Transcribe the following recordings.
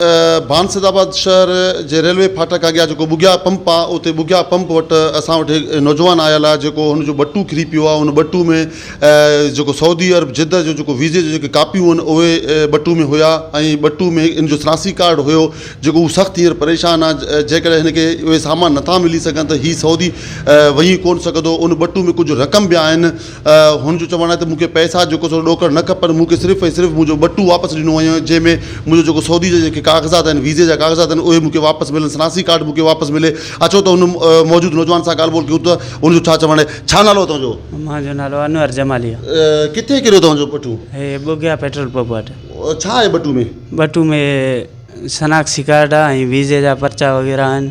ڀان Saeedabad شهر جي railway ڦاٽڪ اڳيان جيڪو ٻگهيا پمپ آ اتي ٻگهيا پمپ وٽ اسان وٽ هڪ نوجوان آيل آ جيڪو هن جو ٻٽو ڪري پيو آ ان ٻٽو ۾ جيڪو سعودي عرب جده جو جيڪو ويزي جون جيڪي ڪاپيون ان اهي ٻٽو ۾ هيا ۽ ٻٽو ۾ ان جو سراسي ڪارڊ هيو جيڪو هو سخت هينئر پريشان آ جنهن ڪري هن کي اهي سامان نٿا ملي سگهن ته هي سعودي وڃي ڪون سگهندو ان ٻٽو ۾ ڪجهه رقم به آهن هن جو چوڻ آهي ته مون کي پئسا جيڪو سو ڏوڪڙ نه کپن، مون کي صرف ۽ صرف منهنجو ٻٽو واپس ڏنو وڃي جنهن ۾ منهنجو جيڪو سعودي جا جيڪي ڪاغذات آهن، ويزي جا ڪاغذات آهن اهي مون کي واپس ملن، شناسي ڪارڊ مون کي واپس ملي. اچو ته هن موجود نوجوان سان ڳالهه ٻولهه ڪيون ته هن جو ڇا چوڻ آهي. ڇا نالو آهي توهان جو؟ مان جو نالو انور جمالي آ. ڪٿي ڪريو توهان جو ٻٽو؟ هي ٻگهيا پيٽرول پمپ وٽ. ڇا آهي ٻٽو ۾؟ ٻٽو ۾ شناخسي ڪارڊ آ ۽ ويزي جا پرچا وغيره آهن.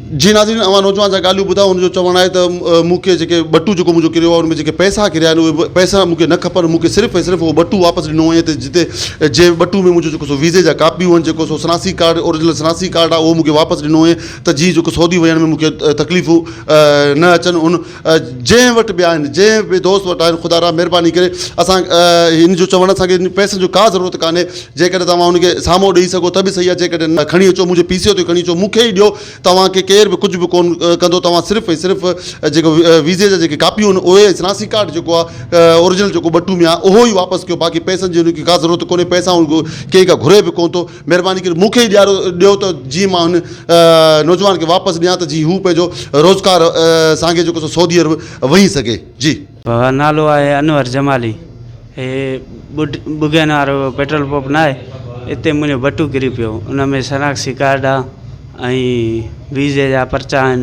جي ناظرين اوهان نوجوان جا ڳالهيون ٻڌايو ان جو چوڻ آهي ته مون کي جيڪي ٻٽو جيڪو منهنجو ڪريو آهي ان ۾ جيڪي پئسا ڪريا آهن اهي پئسا مون کي نه کپن مون کي صرف ۽ صرف اهو ٻٽو واپس ڏنو وڃي ته جتي جنهن ٻٽو ۾ منهنجو جيڪو سو ويزي جا ڪاپيون آهن جيڪو سو شناسي ڪارڊ اورجنل شناسي ڪارڊ آهي اهو مون کي واپس ڏنو وڃي ته جي جيڪو سعودي وڃڻ ۾ مون کي تڪليفون نه اچن ان جنهن وٽ به آهن جنهن به دوست وٽ آهن خدا را مهرباني ڪري اسان هن جو چوڻ اسان کي پئسن جو ڪا ضرورت ڪانهي جيڪڏهن توهان ان کي سامو ڏئي سگهو ته به صحيح آهي جيڪڏهن نه کڻي اچو منهنجي پي سي او تي کڻي اچو مون کي ئي ڏيو توهان کي ڪير به ڪجهه به ڪون ڪندو توهان صرف ۽ صرف جيڪو ويزي جا جيڪي ڪاپيون آهن اهي ۽ شناسي ڪارڊ جيڪو آهي اورجنل جيڪو ٻٽو ۾ آهي اهو ئي واپس ڪيو باقي پئسن جي ان کي ڪا ضرورت ڪونهي پئسا ڪنهن کان گهري به ڪون ٿو مھرباني ڪري مون کي ئي ڏيارو ڏيو ته جيئن مان ھن نوجوان کي واپس ڏيان ته جيئن ھو پنھنجو روزگار سانگي جيڪو سو سعودي عرب وڃي سگھي جي. بابا نالو آھي انور جمالي ھي ٻڍ ٻگھين وارو پيٽرول پمپ نه آھي اتي منھنجو بٽو ڪري پيو ان ۾ شناختي ڪارڊ آھي ۽ ويزي جا پرچا آھن.